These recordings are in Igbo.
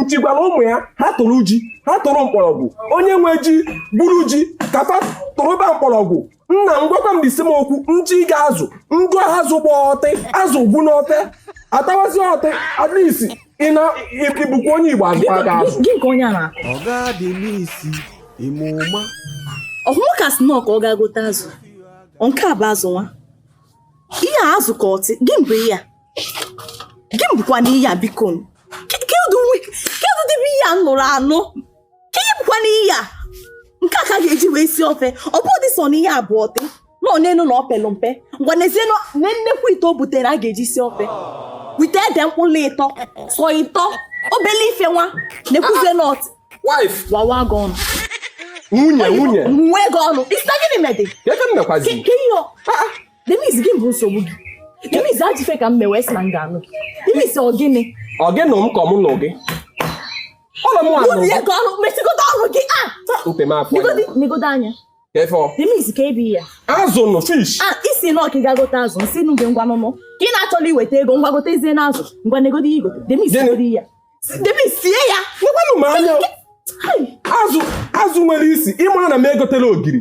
nchi gwara ụmụ ya ha tụrụ ji ha tụrụ mkpọrọgwụ onye nwe ji gwuru ji ka fa tụrụba mkpọrọgwụ nna m gwakwa m isi m okwu nji ga-azụ ngo azụ gba ọtị azụ gwụ n'ofe atawazi ọtị at least ị na ị bụkwa onye igbo azụ a ga-azụ gị nke onye a na-akọ ọ ga-adị n'isi ime ụma ọhụrụ ka snọọ ka ọ ga-agote azụ nke a bụ azụ nwa ihe a azụ ka ọtị gị mbụ ihe a gị bụkwa n'iyi ya biko kedụ dịbe ihe a nụrụ anụ ka ihe bụkwa n'iyi ya nke a ka ga-eji wee si ofe ọ bụ ụdị sọ na ihe abụọ dị na onion na o pelụ mpe ngwa nezie na nnekwu ite o butere a ga-eji si ofe wete ede mkpụrụ ịtọ sọ ịtọ obele ife nwa na-ekwuzie nọt wawa gị ọnụ nwunye nwunye nwe gị ọnụ isi gịnị medị ka ihe Denise gị bụ nsogbu gị Denise ajụfe ka m mewe sị na m ga-anụ gị Denise ọ gịnị ọ gị nụ m ka ọ mụ nụ gị ọnụ m anụ gị ọnụ mesigodo ọnụ gị a nte m afọ negodo anya efọ Denise ka ebi ya azụ nụ fish a isi na ọkị ga gote azụ nsị nụ gị ngwa nụnụ ka ị na-achọla iweta ego ngwa gote ezie na azụ ngwa negodo ya igote Denise godi ya Denise sie ya nekwanụ m anya azụ azụ nwere isi ịmara na m egotela ogiri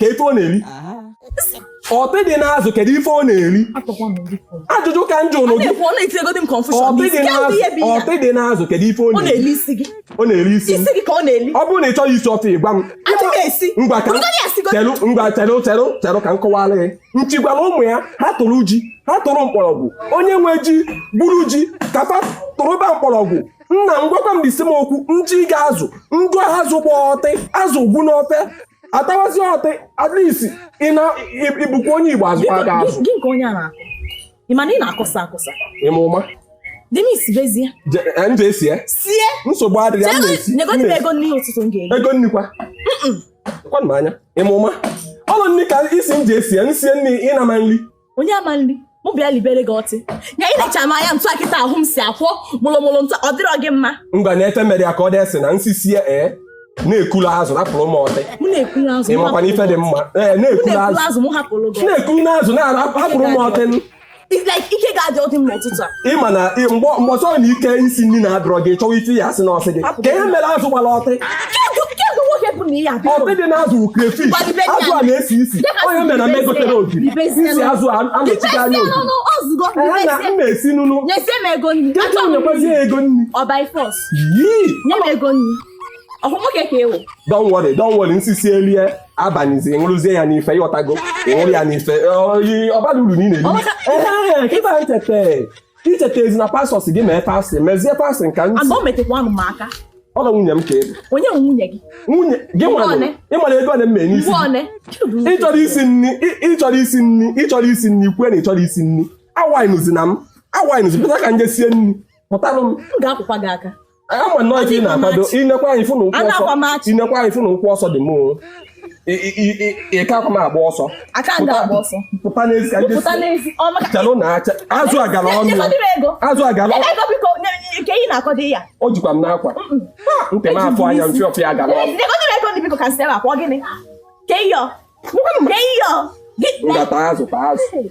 ka ife ọ na-eri ọtị dị n'azụ kedu ife ọ na-eri ajụjụ ka m jụọnụ gị ọtị dị n'azụ kedu ife ọ na-eri ọ na-eri isi ọ bụrụ na ị chọghị isi ọtị ịgwa m ngwa ka chelụ ngwa chelụ chelụ chelụ ka m kọwara gị nchi gwara ụmụ ya ha tụrụ ji ha tụrụ mkpọrọgwụ onye nwe ji gwuru ji ka fa tụrụba mkpọrọgwụ nna m gwakwa m isi m okwu nji ga-azụ ngo azụ gba ọtị azụ gwụ n'ofe atawazi ọtị at least ị na ị- ị bụkwa onye igbo azụkwa gị azụ gị nke onye a na-akụ ị ma na ị na-akụsa akụsa ịma ụma dị m isibezie Je- eh, nje esi ya sie nsogbu adịghị m na-esi m negodi m na-esi. ego nni ụtụtụ m ga-eri ego nni kwa kwanụ m anya ịma ụma ọnụ nri ka ị sị m je esi ya nsie nri ị na-ama nri onye ama nri mụ bịa libere gị ọtị ya ị na-echa m anya ntụ akịta ahụ m si akwọ mụlụmụlụ ntụ ọ dịrọ gị mma ngwa na-efe mere ya ka ọ dịsị na nsisie ee na-ekulu azụ rapụrụ m ọtị mụ na-ekuru azụ ị mụ makwa na ife dị mma ee hapụrụ- mụ na-ekulu na-ekuru azụ azụ mụ hapụrụ gị na-ekulu azụ na-arapụrụ m ọtị It's like ike ga-adị ọdị m n'ụtụtụ a ịma na mgbe ọsọ na ike isi nri na-adịrọ gị chọwa ịtụ ya asị na ọsị gị kee ihe mere azụ gbara ọtị ọtị dị na azụ krefish azụ a na-esi isi ihe mere na m egotere ogiri isi azụ anọchigo anya ogiri na m na-esi nụnụ kedu nyekwazi ya ego nri yii don't worry don't worry nsisie elie abanyizi ịṅụrụzie ya n'ife ị ghọtago ịṅụrụ ya n'ife ọbara uru niile icheta ezi na pastọs gị mee pastị mezie pastị nka ntị ọ na nwunye m ka ebe onye nwunye gị nwunye gị nwere ị mara ego ole m mee n'isi ịchọrọ isi nri ịchọrọ isi nri ịchọrọ isi nri kwue na ịchọrọ isi nri awaịnụzi na m awaịnụzi pụta ka m je sie nri pụtara m ga-akụkwa gị aka ama nnọọ ife ị na-akwado inekwa anyị fụna ụkwụ ọsọ inekwa anyị fụna ụkwụ ọsọ di m ị kakwa m agba ọsọ pụta n'ezi ka chelụ na acha azụ agara ọnụ azụ agara o jikwa m n'akwa ntị m afọ anya mfe ọfịa agara ọnụ ngata azụ ta azụ